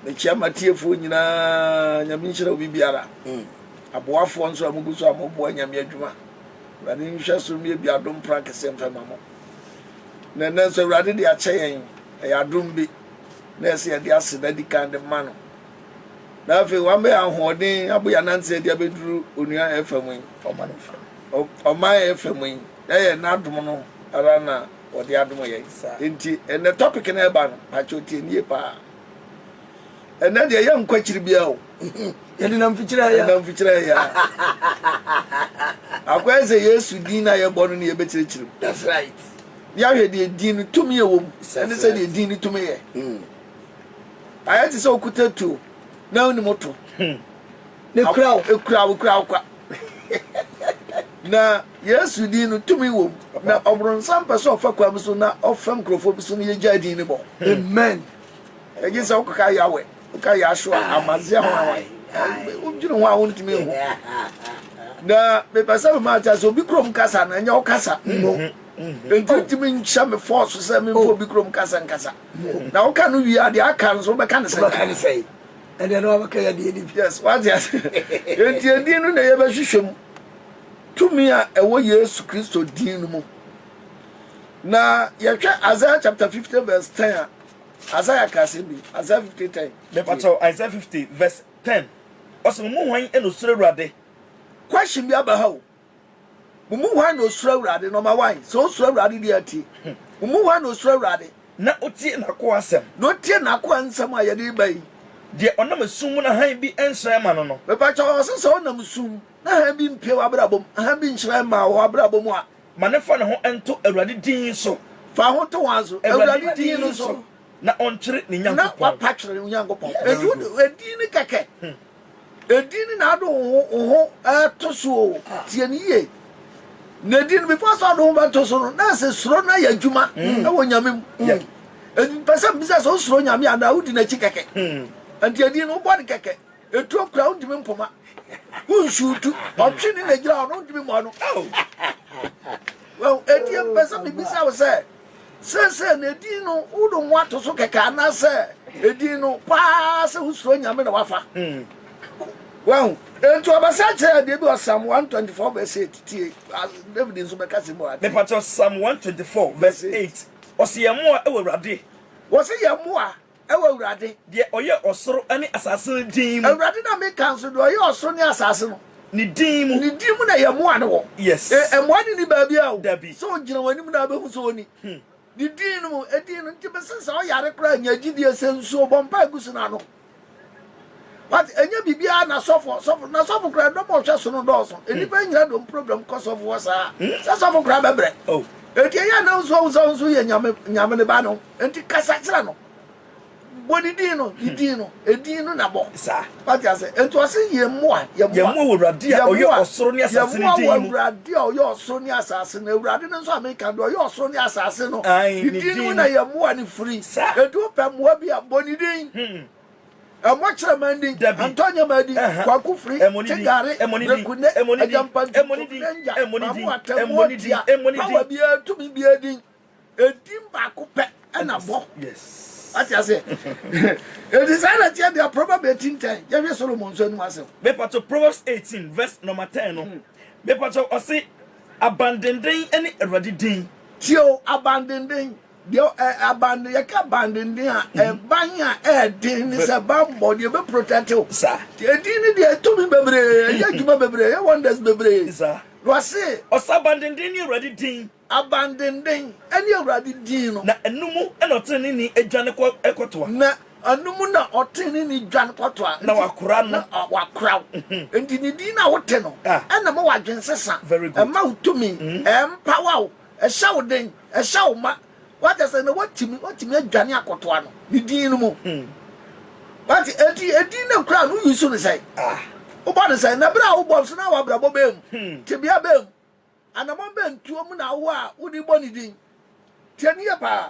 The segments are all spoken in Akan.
Mekyia m'atiefoɔ nyinaa, Nyame nhyira obibiara, aboafoɔ nso a mogu so a moboa Nyame adwuma, Awurade nhwɛ so mmie bi adom pran kɛseɛ mfa ma mo, na ɛnɛ nso Awurade de akyɛ yɛn, ɛyɛ adom bi na ɛsɛ yɛde aseda di kan de ma no, na afei wama yɛn ahoɔden abɔ yɛn ananteɛ de abɛduru onua ɛfa mu yi, ɔman ɛfa mu yi, ɛyɛ n'adom no ara na ɔde adom yɛn, enti ɛnɛ topic no ɛba no, pakyɛ ɔtie no yie paa. Ɛnɛ deɛ yɛ nkɔ akyiri bia o. Yɛde nam fikyerɛ ya. Nam fikyerɛ ya. Akɔyɛ sɛ Yesu din na yɛbɔ no ne yɛbɛkyerɛkyerɛ mu. That's right. Yɛahwɛ deɛ din no tumi yɛ wɔ mu. Ɛne sɛ deɛ din no tumi yɛ. Hmm. Ayɛ te sɛ okuta tuo na wonim to. Hmm. Mekura wo. Ekura wo kura wo kwa. Na Yesu din no tumi wɔ mu. Na ɔbronsam pɛ sɛ ɔfa kwa bi so na ɔfa nkurɔfoɔ bi so no yɛgyaa din no bɔ. Amen. Ɛgye sɛ wokɔka Yahweh, woka Yahshua, Amazia ho a wodwene ho a wontumi nhu. Na mepɛ sɛ mema ate sɛ obi kurom kasa no ɛnyɛ wokasa no. Nti ntumi nhyɛ me fɔɔ so sɛ memfa obi kurom kasa nkasa. Na woka no wie a deɛ aka no so wobɛka ne sɛ. Ɛnneɛ na wabɛka yɛn deɛ DPS. Wate ase? Enti edin no na yɛbɛhwehwɛ mu, tumi a ɛwɔ Yesu Kristo din no mu. Na yɛhwɛ Isaiah chapter fifty verse ten a, Isaiah ka asɛm bi, Isaiah fifty ten. Mepatɔ Isaiah fifty verse ten, ɔsɛ mo mu hwan na osuro Awurade? Question bi aba ha o. Mo mu hwan na osuro Awurade? Nɔma wan? Sɛ osuro Awurade deɛ atie. Mo mu hwan na osuro Awurade? Na otie n'akoa asɛm. Na otie n'akoa nsɛm a yɛde reba yi. Deɛ ɔnam esum mu na hann bi nhyerɛn mma no no. Mepa kyɛw, ɔse sɛ ɔnam sum mu na hann bi mpue w'abrabɔ mu, hann bi nhyerɛn mma wo w'abrabɔ mu a. Ma no fa ne ho nto Awurade din so. Fa ho to wan so? Awurade din no so. Na ɔntwere ne Nyankopɔn. Na wapa twere ne Nyankopɔn. Yes. Enti wode, edin no kɛkɛ. Edin ne n'ado ho ho ho to so o. Tie no yie. N'edin no, before sɛ ɔde ho bɛto so no, na ɛsɛ suro no ayɛ adwuma wɔ Nyame mu. Mpɛ sɛ mbisa sɛ wosuro Nyame anaa wodi n'akyi kɛkɛ. Nti edin no wobɔ no kɛkɛ. Etuo kura wontumi mpoma. Wonsuutu. Ɔtwe ne na gyina hɔ no wontumi mmɔ no. Wahu? Enti mpɛ sɛ mebisa wo sɛ Seesei no, edin no, wode wo ho ato so kɛkɛ anaasɛ edin no paa sɛ wosuro Nyame na woafa? Wahu? Enti ɔbɛsa kyerɛ yɛ deɛ bi wɔ Psalm 124 verse 8. Tie, David nso bɛka sɛ mu ade. Mepakyɛ, Psalm 124 verse 8. Ɔse yɛn mmoa wɔ Awurade. Wɔse yɛn mmoa. Ɛwɔ Awurade. Deɛ ɔyɛ ɔsoro ne asase no din mu. Awurade na me ka nso, deɛ ɔyɛ ɔsoro ne asase no. Ne din mu. Ne din mu na yɛ mmoa no wɔ. Yes. E, mmoa ne ni baabia o. Dabi. Sɛ ɔgyina wɔn anim na abɛhu sɛ ɔni. Hmm. Ne din no mu, edin no nti bɛsɛ sɛ ɔyare koraa nya gyidie sɛ nsuo, bɔ mpae gu so na nom. Wate, ɛnyɛ biribiara na sɔfo, sɔfo, na sɔfo kura dɔm a ɔhwɛ so no dɔɔso. Hmm. Nnipa nyina dɔm problem kɔ sɔfo hɔ saa. Hmm. Sɛ sɔfo kura bɛbrɛ. Oh. Enti ɛyɛ na nso ɔhu sɛ nso yɛ nyame, nyame ne ba no. Enti kasa kyerɛ no. Bɔ ne din no, ne hmm. din no, edin no na bɔ. Saa. Wate ase. Enti ɔse yɛ mmoa, yɛ mmoa. Yɛ mmoa wɔ Awurade a ɔyɛ ɔsoro ne asase ne din mu. Yɛ mmoa wɔ Awurade a ɔyɛ ɔsoro ne asase no. Awurade no nso a meka do, ɔyɛ ɔsoro ne asase no. Ne din no na yɛ mmoa ne firi. Enti wopɛ mmoa bi a bɔ ne din. Ɛmɔ kyerɛ mɛn din, antɔ nyɛ mɛn din, kwaku firi, ti gari, breku ne, agyampanti, kofinɛngya, mamu atɛ, muo tia, bawa bie, tumi bie din. Edin baako pɛ ɛna bɔ. Ati ase. Eti saa na tia bia Proverb 18 10, yɛ hwɛ Solomon nso anum asɛm. Mepakyɛ Proverbs 18 verse number 10 no, mepakyɛ ɔse abandenden ɛne Awurade din. Tie o, abandenden. Deɛ ɛ abande yɛka abandenden a ɛban a ɛɛden ne sɛ banbɔ deɛ ɛbɛ protect wo sa deɛ ɛdin ne deɛ ɛtumi bebree ɛyɛ adwuma bebree ɛyɛ wonders bebree sa na wase ɔsa abandenden ne awurade din abandenden ɛne awurade din no na ɛno mu ɛna ɔtene ne ni adwane kɔ ɛkɔtoa na ɛno mu na ɔtene ne ni dwane kɔtoa na wakora no na wakora wo mhm. nti ne din na wote no ɛna ma wadwensesa ɛma wo tumi ɛmpawa mhm. wo Ɛhyɛ wo den, ɛhyɛ wo ma. Wate asɛ na watumi watumi adwane akɔto ano ne din no mu. Hmm. Wate eti edin no kura no yi so ne sɛn. Ah. Wobɔ ne sɛn na bere a wobɔ nso na wabrabɔ bɛn mu. Hmm. Tebea bɛn mu. Anamɔ bɛn tuo mu na awo a wode bɔ ne din. Tiɛ ne yɛ paa.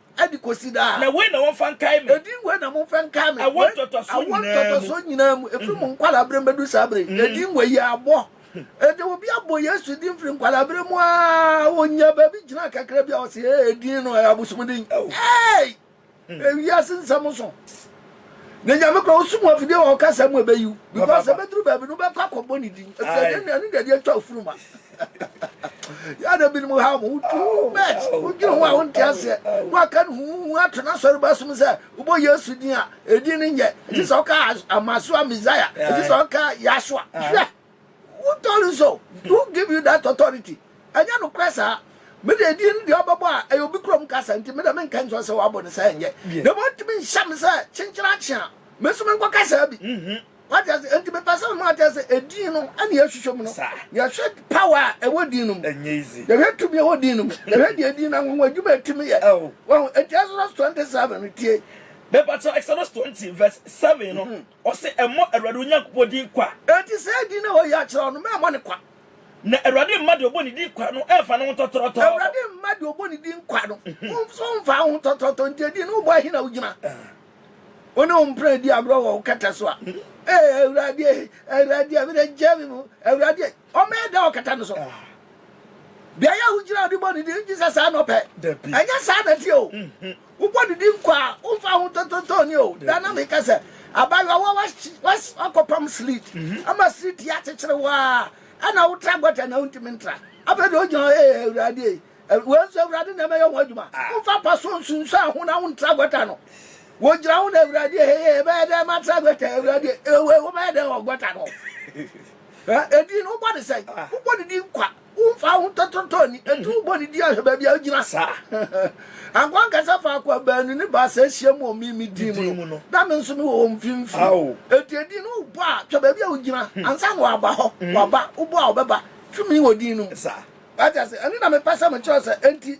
Ɛde kɔsi daa. Na wei na wɔmfa nkae me. Ɛdin wei na momfa nkae me. Awo ntɔtɔsoɔ nyinaa mu. Awo ntɔtɔsoɔ nyinaa mu. Ɛfiri mo nkwalaa berɛ mu bɛdu saa berɛ yi. Ɛdin wei yɛ abɔ. Ɛde hmm. obi abɔ Yesu din firi nkwalaa berɛ mu aa. Ɔnya baabi gyina kakra bi a ɔsɛ ɛdin no ɛyɛ abosomdin. Ɛyi! Ɛwiase nsɛm so. na nyame kora wosom afidie wɔ ɔkasa mu ɛbɛyi wo because ɛbɛduru baabi no wobɛkɔ akɔbɔ ne din ɛfisɛ ɛno deɛ deɛ atwa ofuruma yɛada binom ha mo too much wodwene ho a wonte aseɛ na waka no huhu ato no asɔre ba som sɛ wobɔ yesu din a ɛdin no nyɛ ɛgye sɛ ɔka amasoa messiah ɛgye sɛ ɔka yasua hwɛ Wo tɔre nso who give you that authority ɛnyɛ nokorɛ saa me deɛ edin no deɛ ɔbɛbɔ a ɛyɛ obi kurom kasa nti me deɛ me nka nkyerɛ sɛ wabɔ no saa nyɛ na ɛmu ɔtumi nhyɛ me sɛ kyenkyere akye a me nso me nkɔka saa bi wate ase nti mepɛ sɛ mema ate sɛ edin no ɛne yɛhwehwɛ mu no yɛhwɛ power a ɛwɔ din no mu yɛhwɛ tumi ɛwɔ din no mu yɛhwɛ deɛ edin no anwanwa adwuma ɛtumi yɛ wɔn enti Exodus 27 no tie mepɛ sɛ Exodus 20 verse 7 no Ɔse ɛmmɔ Awurade wo Nyankopɔn din kwa. Enti saa din no a wayi akyerɛ wo no, mɛmmɔ no kwa. Na Awurade mma deɛ ɔbɔ ne din kwa no mmfa ne ho ntɔtorɔtɔ. Awurade mma deɛ ɔbɔ ne din kwa no nso mmfa wo ho ntɔtorɔtɔ. Enti edin no wobɔ he na wogyina? Wo ne wo mpena di agorɔ wɔ wo kɛtɛ so a, Ee Awurade ei, Awurade a, me na gyaa me mu, Awurade ei. Ɔmmɛyɛ dɛn akata no so? Beae a wugyina de bɔ ne din gye sɛ saa na ɔpɛ? Dabi. Ɛnyɛ saa na ɛteɛ o. Wobɔ ne din kwa a, womfa ho tontontooni o. Daa na meka sɛ, Abaayewa, wo a woahye, woas, woakɔpam sleet, ama sleet yi akyekyere wo ara, ɛna wotra gɔta na wuntumi ntra. Afei deɛ wogyina hɔ, Ee, Awurade ei, Aw-, wei nso, Awurade na ɛbɛyɛ ho adwuma. Womfa pa so nsunsuan ho na wontra gɔta no. Wogyina ho na, Awurade ei, ee, ɛbɛyɛ dɛn matra gɔta yi, Awurade ei, ee, wei, wobɛyɛ dɛn wɔ gɔta no ho? Edin no wobɔ ne sɛn? Wobɔ ne din kwa. Womfa ho ntɔtɔtɔ nni. Enti wobɔ ne din ahwɛ baabi a ogyina saa. Ankoa nkasa faako a baanu ne baasa ahyia mu wɔ me me din mu no, na me nso mewɔ wɔn mfimfini. Enti edin no wobɔ a, hwɛ baabi a ogyina. Ansa na waba hɔ, waba. Wobɔ a ɔbɛba. Tumi wɔ din no mu. Wate ase? Ɛno na mepɛ sɛ mekyerɛ wo sɛ enti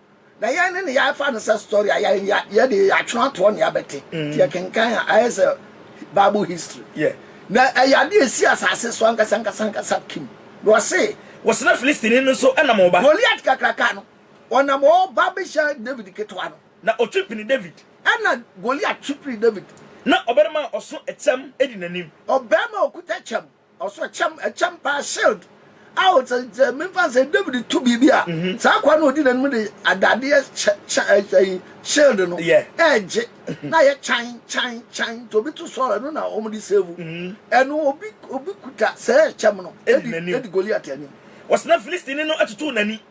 Na yɛn de no yɛafa no sɛ story a yɛn yɛ de yɛatwe atoɔ nea bɛte nti yɛkenkan a ayɛ sɛ bible history yeah. na ɛyɛ ade a ɛsi asase so ankasa ankasa ankasa kim na ɔse wɔsena Filistini no so nam ɔba. Goliat kakraka no ɔnam ɔba bɛhyia David ketewa no. Na ɔtwe pini David. Ɛna Goliat twe pini David. Na ɔbarima a ɔso ɛkyɛm di n'anim. Ɔbarima a ɔkuta kyɛm. Ɔsɔ kyɛm, ɛkyɛm paa, shield. Ao, sɛ, sɛ memfa nsɛ, David to biribi a, mm-hmm. saa akoa no ɔdi n'anim de adadeɛ kyɛ, kyɛ, ɛyi, eh, eh, shield no, yeah. ɛregye, mm-hmm. na yɛ kyan, kyan, kyan, nti obi to sɔɔ, ɛno na wɔn de save. Mm-hmm. Ɛno, obi, obi kuta sɛ ɛkyɛm no, ɛdi, ɛdi Goliath anim. Wɔsena Filistini no atutu n'ani.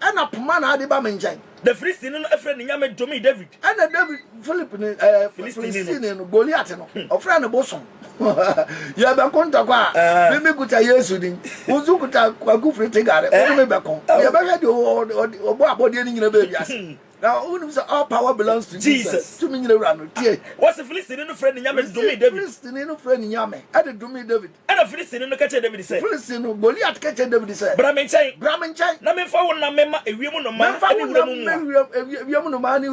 Ɛnna poma na ade ba me nkyɛn. Na Filistini no frɛɛ ne nyame domee Dawid. Ɛnna Dawid Filip ne ɛɛ Filistini no Goliat no hmm. ɔfrɛɛ no bosom. Yɛbɛko ntɔkwa a ah. me me kuta Yesu din wo nso kuta Kwaku Firi Tigare wo ne me eh. bɛko oh. yɛbɛhwɛ deɛ ɔbɔ abɔdeɛ no nyina baabi ase. Hmm. Now, who knows all power belongs to Jesus? Jesus. To me, you know, tie. What's the Philistine no friend? Nyame, domi David. Philistine no friend, Nyame. Ade domi David. Ɛnna Filistini no ka kyerɛɛ Dawid sɛ. Filistini no Goliat ka kyerɛɛ Dawid sɛ. Bra me nkyɛn. Bra me nkyɛn. Na memfa wo nam mma ewiem nnomaa ne wuram mmoa. Memfa wo nam mma ewiem nnomaa ne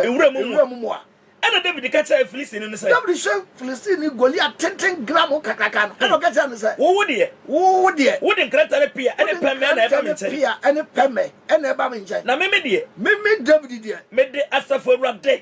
wuram mmoa. Ɛnna Dawid ka kyerɛɛ Filistini no sɛ. Dawid hwɛ Filistini Goliat tenten gramoo kakraka no, ɛnna ɔka kyerɛɛ no sɛ. Wo deɛ. Wo deɛ. Wode nkrantɛ ne pea ne pɛmɛ na ɛba me nkyɛn. Wode nkrantɛ ne pea ne pɛmɛ na ɛba me nkyɛn. Na meme deɛ. Meme Dawid deɛ. Mede Asafo Awurade.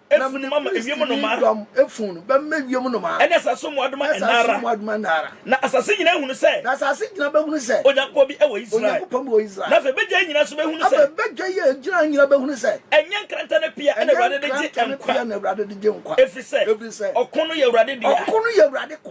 na mede Filistini dɔm funu no bɛma wiem nnomaa, ne asase so mmoadoma nna ara. Na asase nyinaa bɛhunu sɛ Onyankopɔn bi wɔ Israel. Na afei badwa yi nyinaa nso bɛhunu sɛ ɛnyɛ nkrantɛ ne pea na Awurade de gye nkwa, ɛfiri sɛ ɔko no yɛ Awurade dea.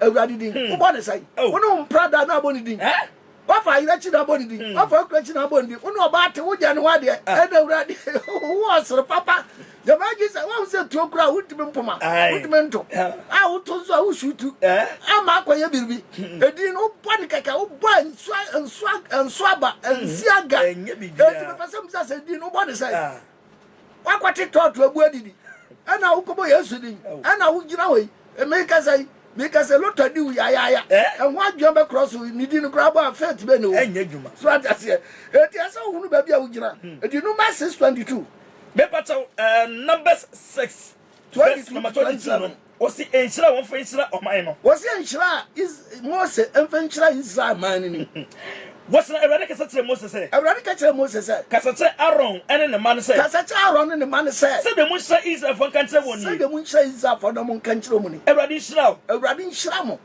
Awurade din. Hmm. Wobɔ ne sɛn? Oh. Wo ne wo mpra da na abɔ ne din. Eh? Wafa ayerɛ kyi na abɔ ne din. Hmm. Wafa akura kyi na abɔ ne din. Wo ne ɔba ate wogyɛ ne ho adeɛ. Ah. Ɛna Awurade wo ɔsere papa. Jamaa gye sɛ wahu sɛ tuo kura a wontumi mpoma. Wontumi nto. A woto nso a wosu tu. Eh? Ama akɔyɛ biribi. Hmm. Edin no wobɔ ne kɛkɛ wobɔ nsuaba nsiaga. Ɛnti mepɛ sɛ misa sɛ edin no wobɔ ne sɛn? Ah. Woakɔte tɔɔto abu adidi ɛna wokɔbɔ Yesu din ɛna wogyina hɔ yi mekasa yi mekasa lotɔ di wo yayaaya ɛho adwuma bɛkorɔ so ne di no koraa bɔ a faith bɛ ne wo ɛnyɛ adwuma so ate aseɛ ɛti ɛsɛ wohunu baabi a wogyina ɛti number 622 mepakyɛw numbers 6 verse number 22 no Ɔse nhyira a wɔmfa nhyira ɔman no. Ɔse nhyira a Mose mfa nhyira Israel man no ni. Verse na Awurade kasa kyerɛɛ Mose sɛ. Awurade ka kyerɛɛ Mose sɛ. Kasa kyerɛ Aaron ne ne mma no sɛ. Kasa kyerɛ Aaron ne ne mma no sɛ. Sɛdeɛ monhyira Israelfoɔ nka nkyerɛ wɔn nie. Sɛdeɛ monhyira Israelfoɔ na monka nkyerɛ wɔn nie. Awurade nhyira wo. Awurade nhyira mo.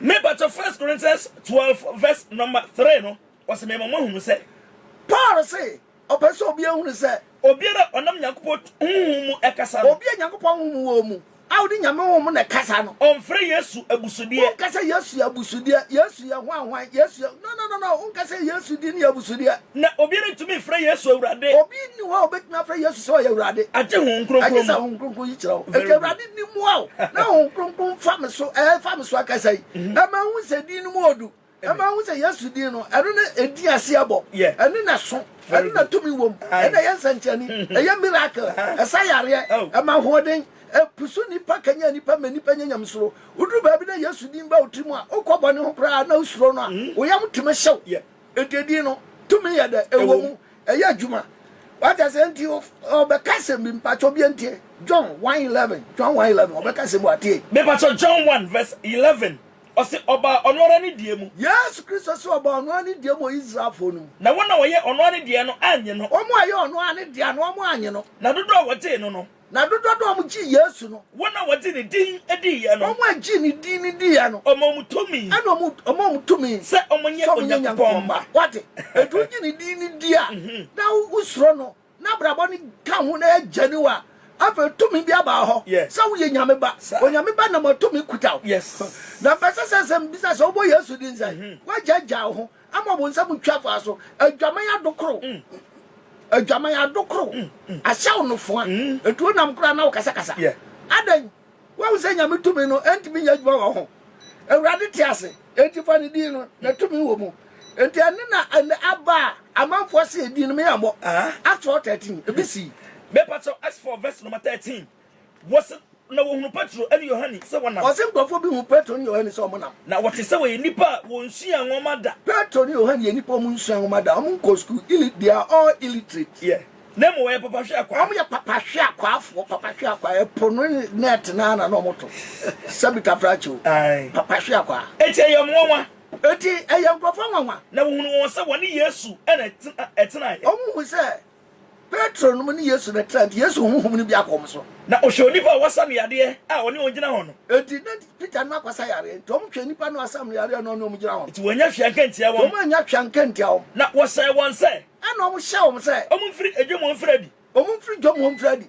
Me pakyɛ first Corinthians twelve verse number three no ɔsɛ me ma mo ahunu sɛ. Paul se ɔpɛ sɛ obiara hunu sɛ. Obiara a ɔnam Nyankopɔn honhom mu ɛkasa no. Obi a Nyankopɔn honhom wɔ mu a ɔde Nyame honhom mu na ɛkasa no. Ɔnfrɛ Yesu abusudeɛ. Wonka sɛ Yesu yɛ abusudeɛ, Yesu yɛ hwan hwan, Yesu yɛ no no no no wonka sɛ Yesu din yɛ abusudeɛ. Na obiara ntumi mfrɛ Yesu Awurade. Obi nni hɔ a obetumi afrɛ Yesu sɛ ɔyɛ Awurade. Agye Honhom Kronkron mu. Agye saa Honhom Kronkron yi kyerɛ wo. Enti Awurade. no mu ao na Honhom Kronkron fa me so ɛɛ fa me so akasa yi ɛma ehu sɛ din no mu odu ɛma ehu sɛ Yesu din no ɛno na edi ase ɛbɔ ɛno na so ɛno na tumi wɔ mu ɛna ɛyɛ nsɛnkyerɛnne mm-hmm. ɛyɛ miracle ɛsa yareɛ oh. ɛma ahoɔden ɛpusu nipa kanya nipa mɛ nipa nya nyamesoro woduru baabi na Yesu din ba otiri mu a okɔ bɔ ne ho koraa na osuro no a mm-hmm. oyam tumi hyɛw ɛdedin no tumi yɛ dɛ ɛwɔ mu Ɛyɛ adwuma. Wate ase nti ɔbɛka sɛm bi mpatsɔ bi ntie John one eleven John one eleven ɔbɛka sɛm bi watie. Mepatsɔ John one verse eleven ɔse ɔbaa ɔno ara ne deɛ mu. Yesu Kristo se ɔbaa ɔno ara ne deɛ mu wɔ Israelfoɔ no mu. Na wɔn a wɔyɛ ɔno ara ne deɛ no annye no. Wɔn a wɔyɛ ɔno ara ne deɛ no wɔn annye no. Na dodoɔ a wɔgyee no no. Na dodoɔ no a wɔn gyee Yesu no. Wɔn a wɔgye ne din diiɛ no. Wɔn a wɔgyee ne din no diiɛ no. Ɔmaa wɔn tumi. Ɛna wɔn, ɔmaa wɔn tumi. Sɛ wɔnyɛ Onyankopɔn mma. Wate? Enti wogye ne din no di a, na wosuro no, na abrabɔ no ka ho, na ɛyɛ gyani wo a, afei tumi bi aba hɔ sɛ woyɛ Nyame ba. Onyame ba nam a tumi kuta wo. Na mpɛ sɛ sɛ sɛ mbisa sɛ wobɔ Yesu din sɛ, woagyaagyaa wo ho. Ama ɔbonsam twa faa so. Adwaman adokoro. Adwaman adokoro. Ahyɛ wo nofoa. Enti wonam koraa na wokasakasa. Adɛn? Woahu sɛ Nyame tumi no ntumi nyɛ adwuma wɔ wo ho. Awurade te ase, enti fa ne din no, na tumi wɔ mu. Enti ɛno na ɛnɛ aba a amanfoɔ se edin no, me ammɔ. Acts four thirteen, ebi sii. Mepa kyɛw, Acts four verse number thirteen. Wɔse na wɔhunu Petro ne Yohane sɛ wɔnam. Wɔse nkurɔfoɔ bi huu Petro ne Yohane sɛ wɔnam. Na wɔte sɛ wɔyɛ nnipa a wɔnsuaa nwoma da. Petro ne Yohane yɛ nnipa a wɔnsuaa nwoma da, wɔnkɔɔ sukuu, illit, they are all illiterate. Yeah. Na mmom wɔyɛ papa hwe akwaa. Wɔyɛ papa hwe akwaafoɔ, papa hwe akwaa, ɛpo no net no ara na na wɔto, sɛbi tafrakye o, Ae. papa hwe akwaa. Enti ɛyɛ wɔn nwanwa. Enti ɛyɛ nkurɔfoɔ nwanwa. Na wɔhunuu wɔn sɛ wɔne Yesu na ɛtenaeɛ. Wɔhunuu sɛ Petro nom ne Yesu na ɛtra nti, Yesu honhom no bi akɔ wɔn so. Na ɔhwɛ onipa a wɔasa no yareɛ a ɔne wɔn gyina hɔ no. Enti na Peter no akɔsa yareɛ, enti wɔhwɛɛ nnipa no a wɔasam no yareɛ a na ɔne wɔn gyina hɔ no. Enti wɔannya hwee anka antia wɔn. Wɔannya hwee anka antia wɔn. Na wɔhyɛɛ wɔn sɛ. Ɛnna wɔhyɛɛ wɔn sɛ. Wɔmfiri dwam wɔmfiri adi. Wɔmfiri dwam wɔmfiri adi.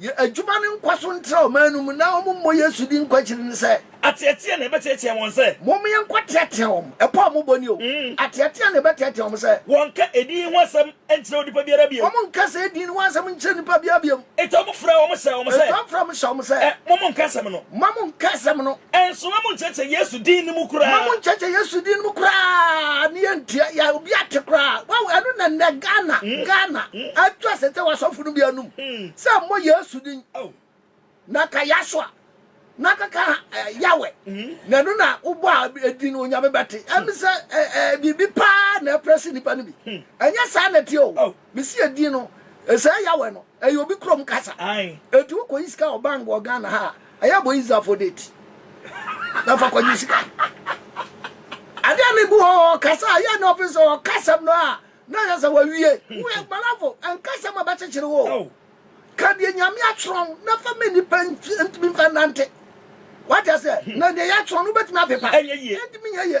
Yɛ adwuma no nkɔ so ntra ɔman no mu na wɔmmɔ Yesu din nkɔ akyiri no sɛ. Ateatea na ɛbɛteatea wɔn sɛ. Momma yɛnkɔteatea wɔn. Ɛpɔ a wɔbɔ ni o. Ateatea na ɛbɛteatea wɔn sɛ. Wɔnnka edin yi ho asɛm nkyerɛ onipa biara bio. Wɔnnka saa edin no ho asɛm nkyerɛ nnipa biara bio. Enti wɔfrɛɛ wɔn hyɛɛ wɔn sɛ. Enti wɔfrɛɛ wɔn hyɛɛ wɔn sɛ. Ɛ, mo monnka asɛm no. Mma monnka asɛm no. Nso ma monkyerɛkyerɛ Yesu din no mu koraa. Ma monkyerɛkyerɛ Yesu din no mu koraa ne yɛntua yɛ obi ate koraa. Wow, ɛno na nnɛ Ghana, mm. Ghana, mm. atu asɛ sɛ wasɔfo no bi anum mm. sɛ mmɔ Yesu din. Oh. Na ka Yasua, na kaka uh, eh, Yahweh. Mm. Na ɛno na wobɔ a ɛdin no onyame bɛte. Ɛmi sɛ uh, uh, biribi paa na ɛprɛ se nnipa no bi. Mm. Ɛnyɛ saa na ɛteɛ o. Oh. Mesi edin no, esɛɛ Yahweh no, ɛyɛ obi kurom kasa. Enti wokɔ yi sika wɔ bank wɔ Ghana ha a, ɛyɛ bɔ yi zafo date. Na fa kɔgye sika. Ade a mebu hɔ kasa a yɛ ne ɔfe sɛ ɔkasɛm no a na yɛ sɛ wawie. Woyɛ gbalafo, ɛnkasɛm a bɛkyekyere wo. Ka deɛ Nyame atwerɛ na fa ma nnipa ntumi mfa nnante. Wate aseɛ? Na deɛ yɛatwerɛ no wobɛtumi apepa. Ɛntumi nyɛ yie.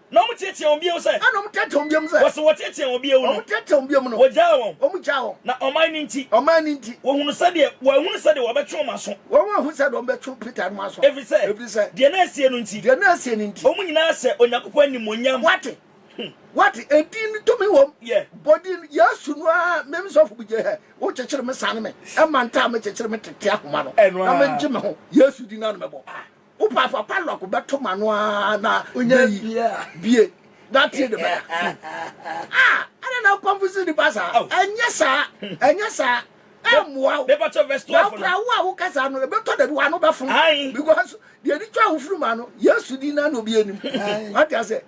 Na wɔn teɛteɛ wɔn bio sɛ. Ɛna wɔn teɛteɛ wɔn bio sɛ. Wɔsi wɔn teɛteɛ wɔn bio no. Wɔn teɛteɛ wɔn bio no. Wɔgyaa wɔn. Wɔn gyaa wɔn. Na ɔman no nti. Ɔman no nti. Wɔhunu sɛdeɛ wɔn ahunu sɛdeɛ wɔn bɛtwe wɔn aso. Wɔn ahunu sɛdeɛ wɔn bɛtwe Peter nom aso. Ɛfiri sɛ. Ɛfiri sɛ. Deɛ na asie no nti. Deɛ na asie no nti. Wɔn nyinaa hyɛ Onyankopɔn animuonyam. Wate. Wate. Edin no tumi wɔm. Yɛ. Bɔ din Yesu no ara me me sɔfo bugye hɛ. Wo kyekyere me sane me. Ɛma ntaa me kyekyere me tete ahoma no. Ɛno ara. Na me ngye me ho. Yesu din no ara na mɛbɔ. Wo papa padlock bɛto m'ano ara na onya bie na tie ne bɛda. Ah, ɛna na mpamfo si nipa saa. Ɛnyɛ saa, ɛnyɛ saa. Ɛmmoa wo. Na wokora wo a woka saa no, ɛbɛtɔ dabi w'ano bɛfo. Because deɛ ɛde twa wo firi m'ano, Yesu din na na obi anim. Wate aseɛ?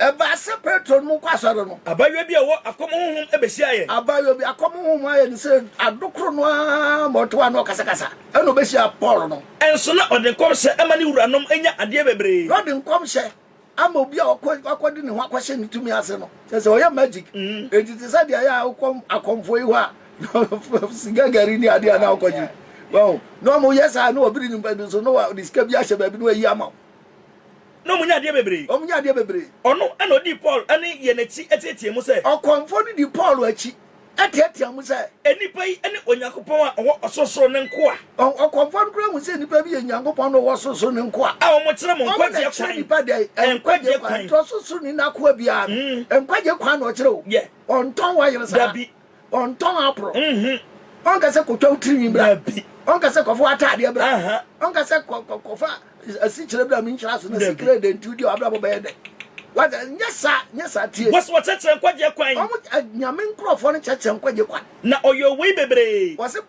Ɛbaa sɛ Petro ne mo kɔ asɔre no. Abaayewa bi a ɔwɔ akɔm honhom behyiaa yɛn. Abaayewa bi akɔm honhom ayɛ no sɛ ade koro no ara ma ɔte hɔ a na ɔkasakasa. Ɛnna obehyiaa Paul no. Nso na ɔde nkɔmhyɛ ama ne wuranom anya adeɛ bebree. Na ɔde nkɔmhyɛ ama obi a wakɔde ne ho akɔhyɛ ne tumi ase no. Kyerɛ sɛ, ɔyɛ magic. Enti te sɛ deɛ ɛyɛ a wokɔ akɔmfoɔ yi hɔ a, sika gari ne adeɛ a na wokɔgye. Wahu? Na wɔyɛ saa a, na wɔbiri nnipa bi nso, na wɔde sika bi ahyɛ baabi na wɔayi ama wo. Na wɔn nyaa adeɛ bebree. Wɔn nyaa adeɛ bebree. Ɔno na ɔdii Paul ne yɛn akyi teateaa mu sɛ. Ɔkɔmfoɔ no dii Paul akyi teateaa mu sɛ. Nnipa yi ne Onyankopɔn a ɔwɔ ɔsorosoro no nkoa. Ɔkɔmfoɔ no koraa hu sɛ nnipa bi yɛ Onyankopɔn na ɔwɔ ɔsorosoro no nkoa. A wɔkyerɛ mo nkwagyeɛ kwan. Wɔn na kyerɛ nnipa dɛn? Nkwagyeɛ kwan. Nti ɔsorosoroni no akoa biara no, nkwagyeɛ kwan na ɔkyerɛ o. Ɔntɔn wayere saa. Dabi. Ɔntɔn aboro. Ɔnka sɛ kɔtwa wo tirinwi bra. Ɔnka sɛ kɔfa w'ataadeɛ bra. Ɔnka sɛ kɔfa asikyire bra menhyira so na sikire dɛ nti wodi w'abrabɔ bɛyɛ dɛ. Wada nyɛ saa nyɛ saa tie. Wɔsi wɔkyerɛkyerɛ nkwagyeɛ kwan. Wɔn nyame nkurɔfoɔ no kyerɛkyerɛ nkwagyeɛ kwan. Na ɔyɛ owei bebree. Wɔsi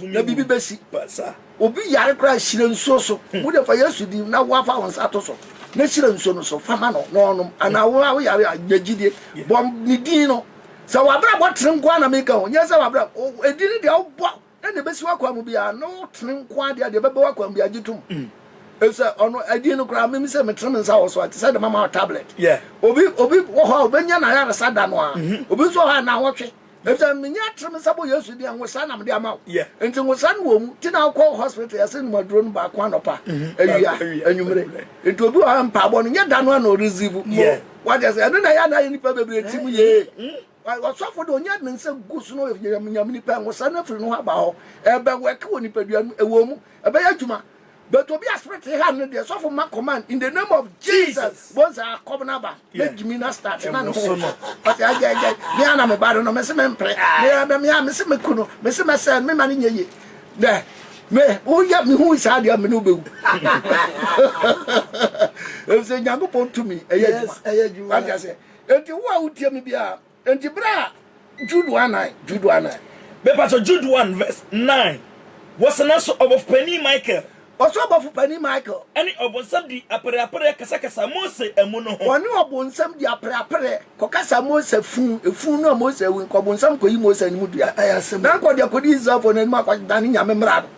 na biribi bɛsi. Sɛ obi yare koraa a, hyira nsuo so. Wo deɛ fa Yesu din na woafa wo nsa to so na hyira nsuo no so fa ma no na ɔnom. Anaa wo a wo yare a, nya gyidie. Bɔ ne din no. Sɛ w'abrabɔ tene nko ara na meka o, nyɛ sɛ w'abrabɔ, ɛdin no deɛ wobɔ na deɛ ɛbɛsi w'akwan mu biara no tene nko ara deɛ a, deɛ ɛbɛba w'akwan mu biara gye tom. Efisɛ ɔno, ɛdin no koraa, mimi sɛ metene me nsa wɔ so a, ɛte sɛ de mama wo tablet. Obi, obi wɔ hɔ a, obɛnya n'ayaresa da no ara. Obi nso wɔ hɔ a, nnawɔtwe. Na sɛ menye atsir me nsa bɔ Yesu din a, nwosaa na mede ama wo. Ntsi nwosaa no wɔ mu. Ntsi na ɔkɔɔ hospital, yɛsee no mu aduro no baako anɔpa, ewia, enyimire. Ntsi obi wɔ ha a, mpaabɔ no, nnyɛ da no ara na ɔreceive mo. Wɔatse ase? Ɛno na ɛyɛ a na ayɛ nyimpa beberee tsim yie. Ɔsɔfo de, onya ne nsa gu so na ɔyɛ nyam nyam nyimpa a nwosaa no efir no ho aba hɔ. Ɛrebɛwork wɔ nyimpadua no mu. Ewɔ mu, ɛbɛyɛ edwuma. But obi a spirit ha no deɛ sɔfo ma command in the name of Jesus bonsa akɔm no aba na gyimi na start na ne ho so ɔte agya agya me ana me ba no no mese mempere me me a mese me kunu mese mɛsɛ me ma no nyɛ ye dɛ me woyɛ me hu saa deɛ me no bɛwu ɛfisɛ nyankopɔn tumi ɛyɛ adwuma wate aseɛ enti wo a wotie me biara Enti bere a Jude one nine, Jude one nine. Mepatɔ Jude one verse nine, Wɔsɛ nanso ɔbɔfo panin Michael. Ɔsɛ ɔbɔfo panin Michael. Ɛne ɔbonsam di apereapereɛ kasakasa Mose amu no ho. Ɔne ɔbonsam di apereapereɛ kɔkasa Mose fu, efu no a Mose awu, nka ɔbonsam kɔyi Mose anim dua, na nka ɔde akɔdi Israelfoɔ no anim akɔdane Nyame mmara no.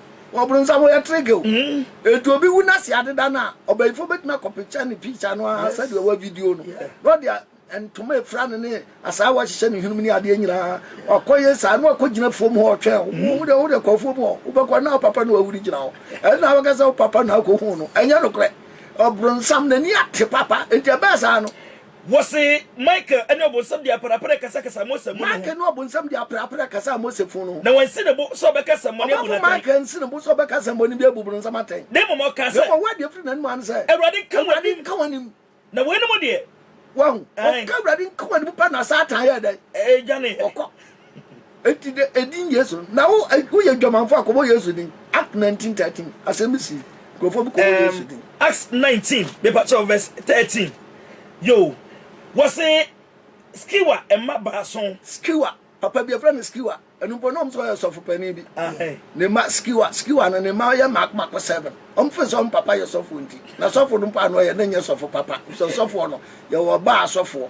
Ɔbronsam ɔyɛ treke o. Enti obi wu na se adeda no a, ɔbayifoɔ bɛtumi akɔpekya ne picture no ara sɛdeɛ ɔwɔ video no na ɔde a. Ntoma a efira no ne asaawa a ɛhyehyɛ ne hwenemu ne adeɛ nyinaa. Ɔkɔyɛ saa na wakɔgyina afuom hɔ ɔtwɛn wo. Wohu dɛ wode kɔ afuom hɔ, wobɛkɔ na wo papa na wawuri gyina hɔ. Ɛno na wobɛka sɛ wo papa na akɔhu no. Ɛnyɛ nokorɛ. Ɔbronsam n'ani ate papa. Enti ɛbɛyɛ saa no. Wɔse Michael ne ɔbonsam de aperapera kasakasaa Mose amu no ho. Michael ne ɔbonsam de aperapera kasaa Mose funu no ho. Na wansi ne bo sɛ ɔbɛka asɛmmɔne abu no atɛn. Ɔbɔfo Michael ansi ne bo sɛ ɔbɛka asɛmmɔne bi abu bronsam atɛn. Na mmom ɔkaa sɛ. Na mmom ɔde afiri n'anom haa no sɛ. Awurade nka w'anim. Awurade nka w'anim. Na weinom deɛ. Wahu. Ɔka Awurade nkoa ne mu pɛ na Satan yɛ dɛn? Ɛdwane. Ɔkɔ. Enti de edin Yesu no. Na wo woyɛ dwamanfo a kɔbɔ Yesu din. Act 19 13. Asɛm bi si. Nkurɔfoɔ bi kɔbɔ Yesu din. Acts 19 mepa kyɛw verse 13. Yo. Wɔse Skewa mma baason. Skewa. Papa bi yɛfrɛ no Skewa. Ɛno mpo na wɔn sɛ ɔyɛ sɔfo panin bi. Ne mma Skiwa, Skiwa no ne mma yɛ mako mako seven. Wɔn fɛ sɛ wɔn papa yɛ sɔfo nti. Na sɔfo no mpo ano ɔyɛ ne nyɛ sɔfo papa. Sɛ ɔsɔfoɔ no, yɛwɔ ɔbaa asɔfoɔ.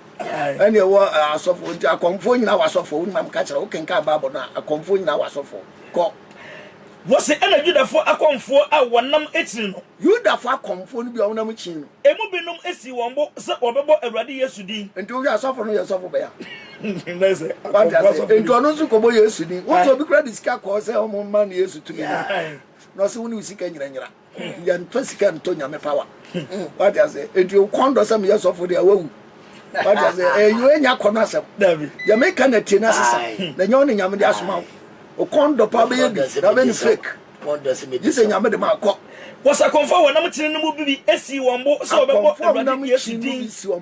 Ɛne ɛwɔ asɔfoɔ nti akɔmfoɔ nyinaa wɔ asɔfoɔ. Wo nyinaa meka kyerɛ wo kenkan Bible no a akɔmfoɔ nyinaa wɔ asɔfoɔ. Kɔ. Wɔse ɛna Yudafoɔ akɔmfoɔ a wɔnam kyini no. Yudafoɔ akɔmfoɔ no bi a wɔnam kyini no. Emu binom sii wɔn bo sɛ wɔbɛbɔ Awurade Yesu din. Enti wohwɛ a, sɔfo no yɛ sɔfo bɛn a? Wate aseɛ? Enti ɔno nso kɔbɔ Yesu din. Wosɛ obi koraa de sika kɔɔ sɛ wɔmma no Yesu tumi no a, na ɔse wo ne wo sika nyina nyera. Yɛnfa sika ntɔ nyame power. Wate ase? Eti o kɔn dɔ sɛ meyɛ sɔfo de awawu. Wate ase? Eyo enya kɔn asɛm. Deɛ meka na tie na sesa. Na nyɛ ɔne nyame de asoma wo. O kɔn dɔ paa bɛyɛ bi na bɛ ne fake. Gye sɛ nyame de ma kɔ. Wɔsakɔmfoɔ a wɔnam kyene no mu bi sii wɔn bo sɛ wɔbɛbɔ Awurade Yesu din.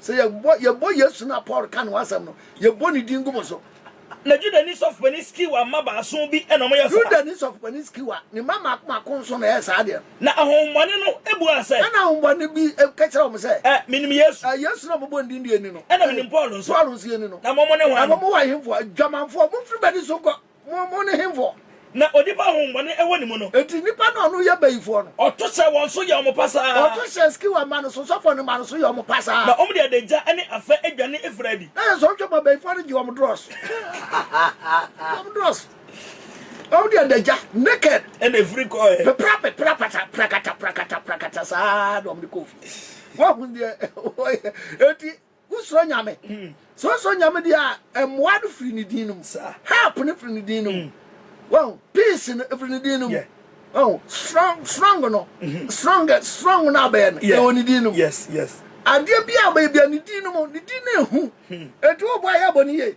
Sɛ yɛbɔ yɛbɔ Yesu no a Paul ka ne ho asɛm no, yɛbɔ ne din gu mo so. Na Judani sɔfopanin Skewa mma baason bi na wɔyɛɛ saa. Judani sɔfopanin Skewa, ne mma mmaako mmaako nso na ɛyɛɛ saa adeɛ no. Na ahonhommɔne no buaa sɛ. Ɛnna ahonhommɔne bi ka kyerɛɛ wɔn sɛ. Ɛ, menim Yesu. Ɛ, Yesu no a mobɔ ne din de yɛnni no. Ɛnna menim Paul nso. Paul nso yɛnni no. Na mo, mone hwan? Na mo, mowɔ ahenfoɔ? Adwamanfoɔ, momfiri m'ani so nkɔ! Mo, mo ne hemfoɔ? Na onipa a honhommɔne wɔ ne mu no. Enti nnipa no a wɔn yɛ bayifoɔ no. Ɔto hyɛ wɔn so yɛ wɔn pasaa. Ɔto hyɛ Skewa mma no so, Sɔfɔn mma no so yɛ wɔn pasaa. Na wɔde adagya ne afã dwane afiri adi. Na yɛ sɛ wɔtwe ba bayifoɔ no gye wɔn dorɔso. Wɔn dorɔso. Wɔde adagya, naked. Ɛna ɛfiri kɔɔɛ. Pepra pepra pata, prakata prakata prakata saa na wɔde kɔɔ fie. Wɔahu deɛ wɔyɛ. Enti. Wosuro Nyame? Sɛ wosuro Nyame deɛ a, mmoa no firi Ne din no mu. Help no firi Ne din no mu. Wahu? Peace no, ɛfiri Ne din no mu. Wahu? Strong, strong no, strong, strong no a bɛyɛ no, ɛwɔ Ne din no mu. Adeɛ biara a bɛyɛ biara, Ne din no mu. Ne din no yɛ hu. Enti wobɔ a, yɛ abɔ no yie.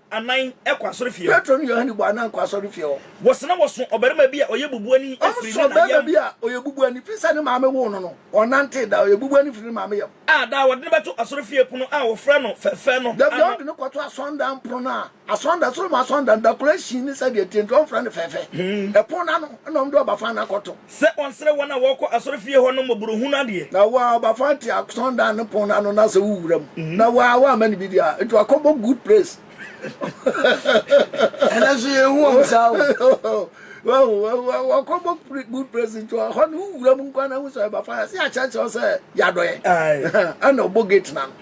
anan kɔ asɔrefie hɔ. Petro ne Yohane bɔ anan kɔ asɔrefie hɔ. Wɔse na wɔso ɔbarima bi a ɔyɛ bubuani firi ne na yam. Wɔso ɔbarima bi a ɔyɛ bubuani firi sɛ ne maame woo no no, ɔnantee daa, ɔyɛ bubuani firi ne maame yam. A daa wɔde no bɛto asɔrefie pono a wɔfrɛ no Fɛfɛ no ano. Da biara wɔde no kɔto asɔredan pono no a asɔredan, Solomon asɔredan no, dakoro asin ne sɛdeɛ ɛteɛ nti wɔmfrɛ no Fɛfɛ. Ɛpono no ano na wɔde ɔba fann akɔto. Sɛ ɔnsrɛ wɔn a wɔkɔ asɔrefie hɔ no mmɔborohunu adeɛ. Na wo a ɔba fa te asɔndan no pon no ano na sɛ wo wura mu na wo a woamma no biribi a, nti wakɔbɔ good praise. Ɛnɛ nso yɛ hu wɔn saa o. Wahu, wakɔbɔ good praise nti ɔhɔ no wo wura mu nkwa na hu sɛ ɔba fa yɛse akyerɛkyerɛ wo sɛ yɛadɔ yɛ. Ɛna ɔbɔ gate na no.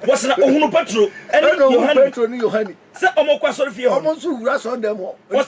Wɔsena ohunu Petro ne Yohane. Petro ne Yohane. Sɛ wɔkɔ asɔrefie hɔ no. Wɔn nso wura asɔndan mu hɔ.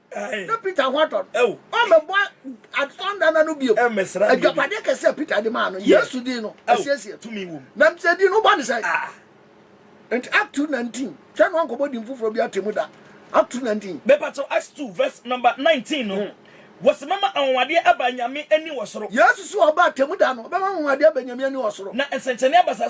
na peter ho atɔ no ɔmmɛbɔ asɔnda na no bio adwapadeɛ kɛsɛ a peter de maa no yesu din no asiesie tumi wom na sɛ din no bɔ ne sɛ ah. nti act 2 19 hwɛ no ankɔbɔ din foforɔ bi atemu da act 2 19 bɛpa kyɛw act 2 verse number 19 no hmm. wɔsi mɛma anwanwadeɛ aba nyame ani wɔ soro yesu so ɔba atemu da no ɔbɛma anwanwadeɛ aba nyame ani wɔ soro na nsɛnkyɛnne aba saa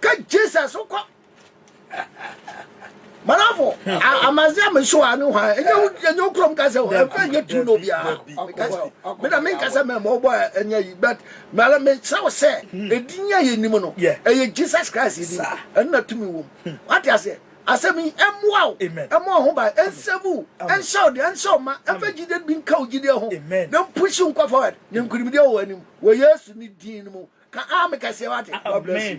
ka jesus kɔ manafo amaze a meso a ne hwan ɛnyɛ wo kurom ka sɛ ɛfɛ nyɛ tu no biara mena menka sɛ mɛma wobɔ ɛnyɛ yi but mara mekyerɛ wo sɛ ɛdin a yɛnim no ɛyɛ jesus christ din ɛno na tumi wom wate aseɛ Asɛm yi mmoa wo mma wo ho ban, ɛnsɛ mu, ɛnhyɛ wo den, ɛnhyɛ wo ma, ɛmfa gyidie bi nka wo gyidie ho, na mpush wo nkɔ forward, na nkunimdie wɔ w'anim wɔ Yesu ne din no mu. Ka aame kɛseɛ wate. God bless you.